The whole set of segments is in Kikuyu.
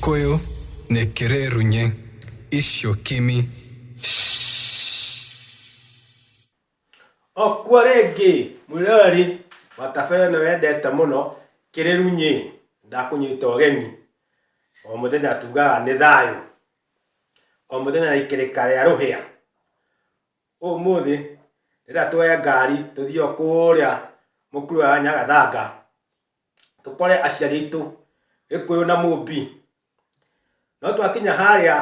Koyo nekirerunye isyo kimi. Okwo rĩngĩ, mwĩroreri wa tabarĩra ĩno wendete mũno, Kĩrĩrunyĩ, ndakũnyita ũgeni. O mũthenya tugaga nĩ thayũ. O mũthenya nĩ ikĩrĩka rĩa rũhĩa. Ũmũthĩ, rĩrĩa twoya ngari tũthiĩ o kũũrĩa mũkuru wa Nyagathanga, tũkore aciari aitũ gĩkũyũ na mũmbi no twakinya harĩa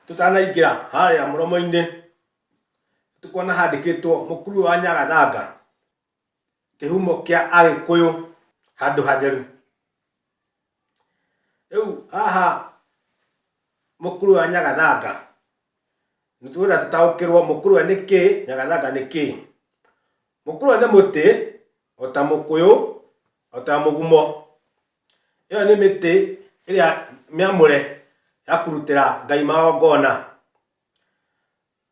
tũtanaingĩra harĩa mũromo-inĩ tũkona handĩkĩtwo mũkuru wa nyagathanga kĩhumo kĩa agĩkũyũ handũ hatheru rĩu haha mũkuru wa nyagathanga nĩtũkwenda tũtaũkĩrwo mũkuru wa nĩ kĩĩ nyagathanga nĩ kĩĩ Mũkũrwa nĩ mũtĩ, o ta mũkũyũ, o ta mũgumo. Ĩyo nĩ mĩtĩ ĩrĩa mĩamũre ya kũrutĩra Ngai magongona.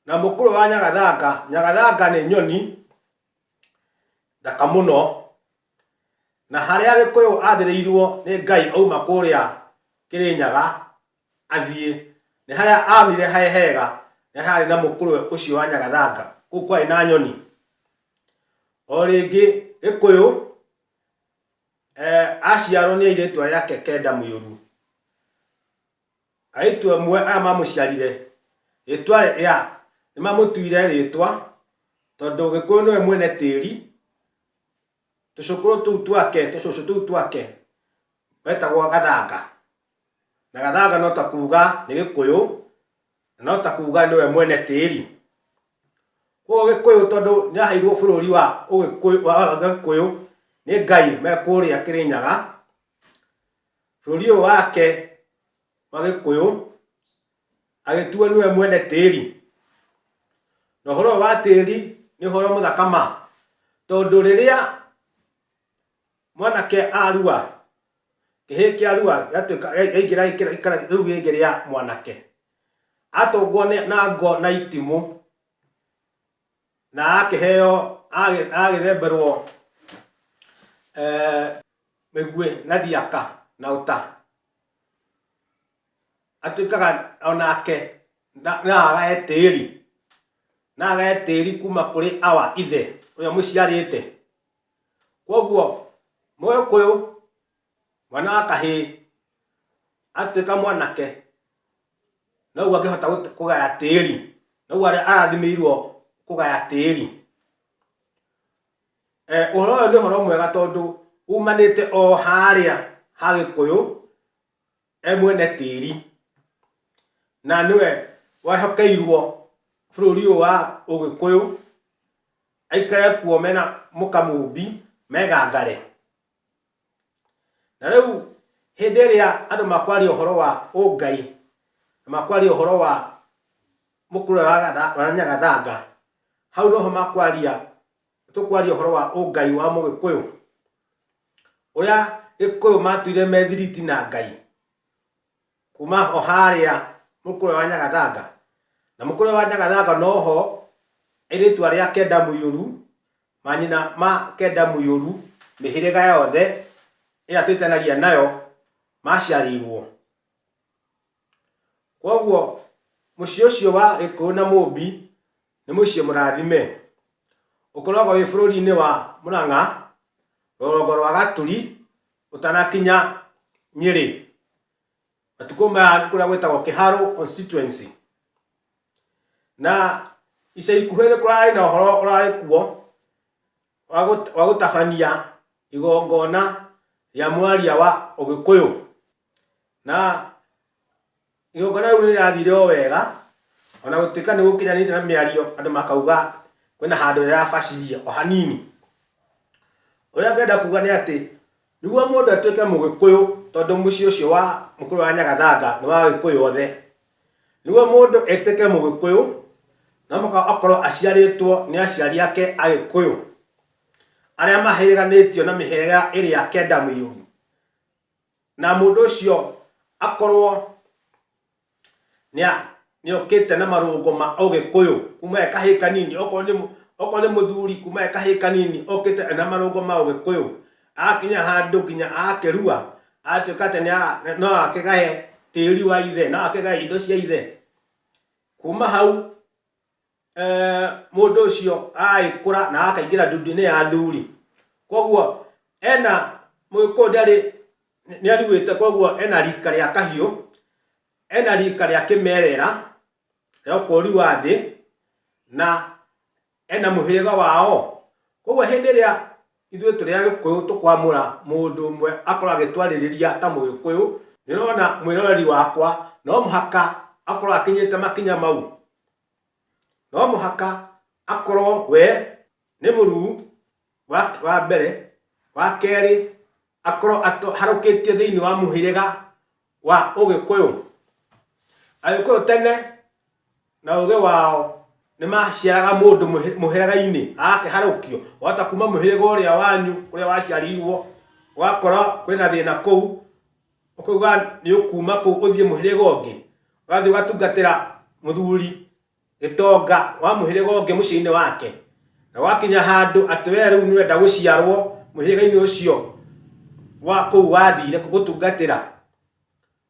Na mũkũrwa wa nyagathanga, nyagathanga nĩ nyoni thaka mũno, na harĩa Gĩkũyũ athĩrĩirwo nĩ Ngai auma kũrĩa Kĩrĩnyaga, athiĩ. Nĩ harĩa aonire harĩ hega na harĩ na mũkũrwe ũcio wa nyagathanga, kũu kwarĩ na nyoni. O rĩngĩ Gĩkũyũ eh, aciarwo nĩ airĩtu arĩa ake kenda mũiyũru. Airĩtu amwe arĩa mamũciarire rĩtwa rĩrĩa nĩmamũtuire rĩtwa tondũ Gĩkũyũ nĩwe mwene tĩri Tũcũkũrũ tũu twake, tũcũcũ tũu twake wetagwo Gathanga. Na Gathanga no ta kuuga nĩ Gĩkũyũ, na no ta kuuga nĩwe mwene tĩri. Koguo Gĩkũyũ tondũ nĩaheirwo bũrũri wa Ũgĩkũyũ, wa Gĩkũyũ nĩ Ngai me kũrĩa Kĩrĩnyaga, bũrũri ũyũ wake wa Gĩkũyũ agĩtuo nĩwe mwene tĩri. Na ũhoro wa tĩri nĩ ũhoro mũthaka ma, tondũ rĩrĩa mwanake arua, kĩhĩ kĩarua gĩatuĩka gĩaingĩra gĩikare rĩu rĩngĩ rĩa mwanake, atũngwo na ngo na itimũ, na akĩheo agagĩthemberwo mĩguĩ na thiaka na ũta, atuĩkaga onake naaga etĩri naaga etĩri kuma kũrĩ awa ithe ũrĩa mũciarĩte kwoguo mũgĩkũyũ mwana wa kahĩĩ atuĩka mwanake noguo angĩhota kũgaya tĩri noguo arathimĩirwo kũgaya tĩri eh, ũhoro ũyũ nĩ ũhoro mwega tondũ umanĩte o harĩa ha gĩkũyũ emwene tĩri na nĩwe wehokeirwo bũrũri ũyũ wa ũgĩkũyũ aikare kuo mena mũkamũmbi megangare. Na rĩu hĩndĩ ĩrĩa andũ makwaria ũhoro wa ũngai na makwaria ũhoro wa mũkũyũ wa nyagathanga hau noho makwaria tũkwaria ũhoro wa ũngai wa mũgĩkũyũ. ũrĩa gĩkũyũ matũire methiriti na ngai kuma o harĩa mũkũrwe wa nyagathanga na mũkũrwe wa nyagathanga noho ĩrĩtwa rĩa kenda mũiyũru manyina ma kenda mũiyũru mĩhĩrĩga yothe ĩrĩa twĩtanagia nayo maciarĩirwo kwoguo mũciĩ ũcio wa gĩkũyũ na mũmbi nĩ mũciĩ mũrathime ũkoragwo wĩ bũrũri-inĩ wa Mũrang'a rũgongo rwa Gaturi ũtanakinya Nyĩrĩ. Matukũ maya nĩ kũrĩa gwĩtagwo Kĩharũ constituency. Na ica ikuhĩ nĩ kũrarĩ na ũhoro ũrarĩ kuo wa gũtabania igongona rĩa mwaria wa ũgĩkũyũ. Na igongona rĩu rĩrathire o wega, o na gũtuĩka nĩ gũkinyanĩte na mĩario, andũ makauga kwĩna handũ rĩrabaciria o hanini. Ũrĩa ngenda kuuga nĩ atĩ, nĩguo mũndũ atuĩke mũgĩkũyũ, tondũ mũciĩ ũcio wa mũkũyũ wa Nyagathanga nĩ wa agĩkũyũ othe, nĩguo mũndũ atuĩke mũgĩkũyũ, no mũhaka akorwo aciarĩtwo nĩ aciari ake agĩkũyũ, arĩa mahĩrĩganĩtio na mĩhĩrĩga ĩrĩa kenda mĩirũ. na mũndũ ũcio akorwo nĩ a- nĩ okĩte na marũngo ma ũgĩkũyũ kuma e kahĩĩ kanini okorwo nĩ mũ- okorwo nĩ mũthuri kuma e kahĩĩ kanini okĩte ena marũngo ma ũgĩkũyũ akinya handũ nginya akĩrua atuĩka atĩ nĩa- no akĩgae tĩri wa ithe no akĩgae indo cia ithe kuma hau eh, mũndũ ũcio agagĩkũra na akaingĩra ndundu-inĩ ya athuri koguo ena mũgĩkũyũ ndarĩ nĩ aruĩte koguo ena rika rĩa kahiũ ena rika rĩa kĩmerera rĩa ũkũũri wa thĩ na ena mũhĩrĩga wao koguo hĩndĩ ĩrĩa ithuĩ tũrĩ agĩkũyũ tũkwamũra mũndũ ũmwe akorwo agĩtwarĩrĩria ta mũgĩkũyũ nĩrona mwĩroreri wakwa no mũhaka akorwo akinyĩte makinya mau no mũhaka akorwo we nĩ mũruu wa mbere, wa kerĩ akorwo aharũkĩtio thĩinĩ wa mũhĩrĩga wa ũgĩkũyũ. Agĩkũyũ tene na ũgĩ wao nĩ maciaraga mũndũ mũhĩrĩga-inĩ agakĩharũkio, wahota kuma mũhĩrĩga ũrĩa wanyu kũrĩa waciarirwo ũgakora kwĩna thĩna kũu, Ũkauga nĩũkuma kũu ũthiĩ mũhĩrĩga ũngĩ, ũgathiĩ ũgatungatĩra mũthuri gĩtonga wa mũhĩrĩga ũngĩ mũciĩ-inĩ wake, na gwakinya handũ atĩ wee rĩu nĩũrenda gũciarwo mũhĩrĩga-inĩ ũcio wa kũu wathire gũtungatĩra,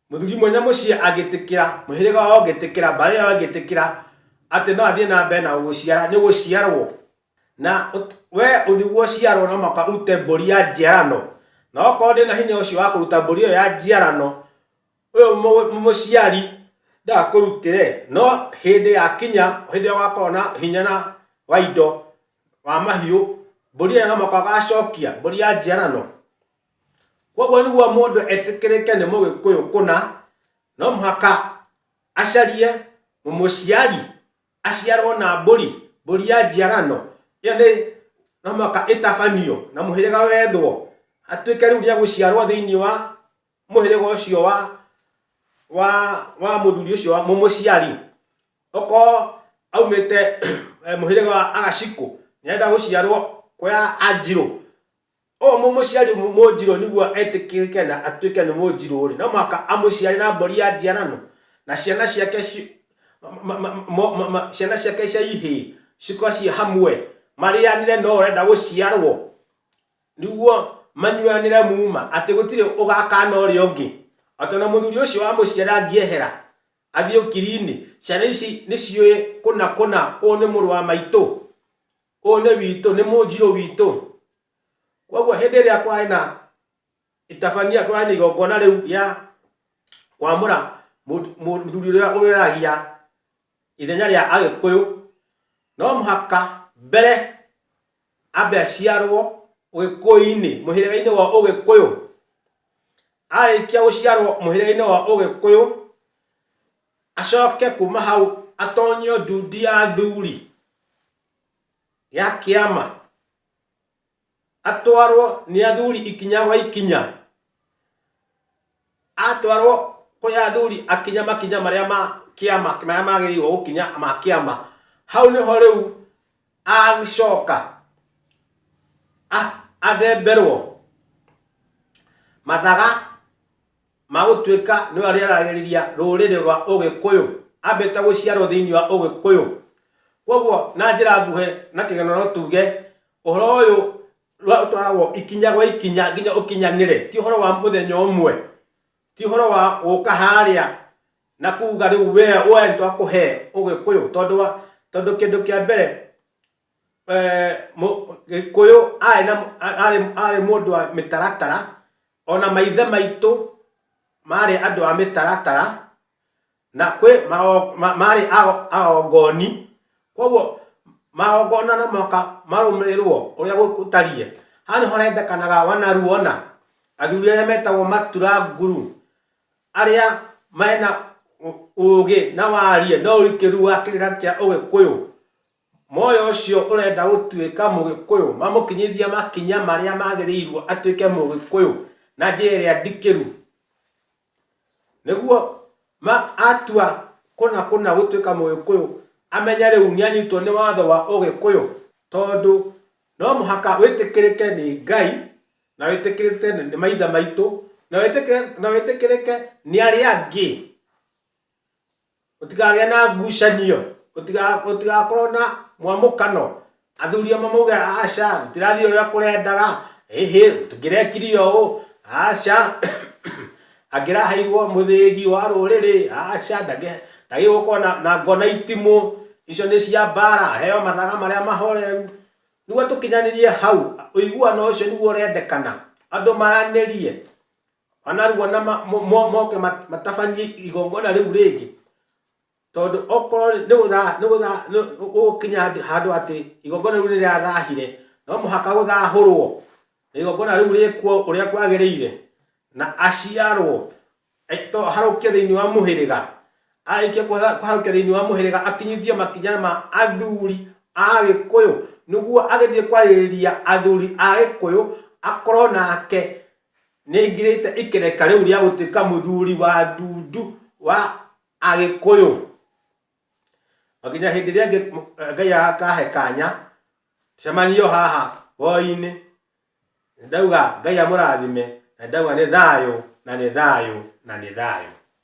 mũthuri mwene mũciĩ angĩtĩkĩra, mũhĩrĩga wao ũngĩtĩkĩra, mbarĩ yao ĩngĩtĩkĩra atĩ no athiĩ na mbere na gũgũciara, nĩũgũciarwo. Na we ũthigwo ũciarwo na mwaka ũrute mbũri ya njiarano, na okorwo ndĩ na hinya ũcio wa kũruta mbũri ĩyo ya njiarano, ũyũ mũciari ndakũrutĩre, no hĩndĩ ya kinya, hĩndĩ ĩrĩa ũgakorwo na hinya na wa indo, wa mahiũ, mbũri ĩyo no mũhaka ũgacokia, mbũri ya njiarano. Koguo nĩguo mũndũ etĩkĩrĩke nĩ mũgĩkũyũ kũna, no mũhaka acarie mũmũciari aciarwo na mbũri, mbũri ya njiarano, ĩyo nĩ no mũhaka ĩtabanio na mũhĩrĩga wethwo, atuĩke rĩu nĩegũciarwo thĩinĩ wa mũhĩrĩga ũcio wa wa wa mũthuri ũcio wa mũmũciari. Okorwo aumĩte mũhĩrĩga wa Agacikũ, nĩarenda gũciarwo kwa Anjirũ, O mũmũciari mũnjirũ nĩguo etĩkĩrĩke na atuĩke nĩ mũnjirũ-rĩ, no mũhaka amũciare na mbũri ya njiarano, na ciana ciake ciana ciake cia ihĩĩ cikorwo ciĩ hamwe, marĩanĩre no ũrenda gũciarwo, nĩguo manyuanĩre muma, atĩ gũtirĩ ũgakana ũrĩa ũngĩ. O ta na mũthuri ũcio wamũciara angĩehera athiĩ ũkiri-inĩ, ciana ici nĩ ciũĩ kũna kũna ũyũ nĩ mũrũ wa maitũ, Ũyũ nĩ witũ, nĩ mũnjirũ witũ. Kwoguo hĩndĩ ĩrĩa kwarĩ na itabania, kwarĩ na igongona rĩu rĩa kwamũra mũthuri ũrĩa ũreragia ithenya rĩa Agĩkũyũ, no mũhaka mbere ambe aciarwo Ũgĩkũyũ-inĩ, mũhĩrĩga-inĩ wa Ũgĩkũyũ. Arĩkia gũciarwo mũhĩrĩga-inĩ wa Ũgĩkũyũ, acoke kuma hau atonyio nduthi ya athuri. ya kĩama atwarwo nĩ athuri ikinya gwa ikinya atwarwo kwĩ athuri akinya makinya marĩa ma kĩama marĩa magĩrĩirwo gũkinya ma kĩama hau nĩho rĩu agĩcoka athemberwo mathaga ma gũtuĩka nĩwe arĩaragĩrĩria rũrĩrĩ rwa Ũgĩkũyũ, ambĩte gũciarwo thĩinĩ wa Ũgĩkũyũ. Kwoguo na njĩra nguhĩ na kĩgeno no tuge ũhoro ũyũ ũtwaragwo ikinya gwa ikinya nginya ũkinyanĩre, ti ũhoro wa mũthenya ũmwe, ti ũhoro wa gũka harĩa na kuga rĩu we nĩ twakũhe Ũgĩkũyũ, tondũ wa, tondũ kĩndũ kĩa mbere Gĩkũyũ arĩ mũndũ wa mĩtaratara, ona maithe maitũ marĩ andũ a mĩtaratara, na kwĩ marĩ agongoni, kwoguo magongona no mũhaka marũmĩrĩrwo ũrĩa gũtariĩ. Haha nĩho hendekanaga wanaruo ũna, athuri arĩa metagwo matura nguru, arĩa mena ũgĩ na wariĩ na ũrikĩru wa kĩrĩra kĩa ũgĩkũyũ. Moya ũcio ũrenda gũtuĩka Mũgĩkũyũ mamũkinyithia makinya marĩa magĩrĩirwo atuĩke Mũgĩkũyũ na njĩra ĩrĩa ndikĩru. Nĩguo atua kũna kũna gũtuĩka Mũgĩkũyũ amenye rĩu nĩ anyitwo nĩ watho wa Ũgĩkũyũ tondũ no mũhaka wĩtĩkĩrĩke nĩ Ngai na wĩtĩkĩrĩke nĩ maithe maitũ na wĩtĩkĩrĩke nĩ arĩa angĩ. Gũtikagĩe na ngucanio, gũtigakorwo na mwamũkano, athuri amwe mauge aca gũtirathiĩ ũrĩa kũrendaga, ĩhĩ tũkĩrekirie ũũ, aca angĩraheirwo mũthĩgi wa rũrĩrĩ, aca ndagĩrĩirwo gũkorwo na ngo na itimũ, icio nĩ cia mbara, aheo mathaga marĩa mahoreru. Nĩguo tũkinyanĩrie hau, ũiguano ũcio nĩguo ũrendekana, andũ maranĩrie. anaruo na ma- mo- mo- moke mat- matabanie igongona rĩu rĩngĩ tondũ okorwo nĩ gũtha- nĩ gũtha- nĩ- gũgũkinya handũ- handũ atĩ igongona rĩu nĩrĩathahire no mũhaka gũthahũrwo na igongona rĩu rĩkuo ũrĩa kwagĩrĩire na aciarwo eh, to harũkie thĩinĩ wa mũhĩrĩga arĩkia kũha- kũharũkia thĩinĩ wa mũhĩrĩga akinyithie makinya ma athuri a gĩkũyũ nĩguo agĩthiĩ kwarĩrĩria athuri a gĩkũyũ akorwo nake Nĩngirĩte ikereka rĩu rĩa gũtuĩka mũthuri wa ndundu wa Agĩkũyũ. O nginya hĩndĩ ĩrĩa ĩngĩ Ngai akahe kanya, tũcemanie o haha hwaĩ-inĩ. Nĩndauga Ngai amũrathime, na nĩndauga nĩ thayũ, na nĩ thayũ, na nĩ thayũ.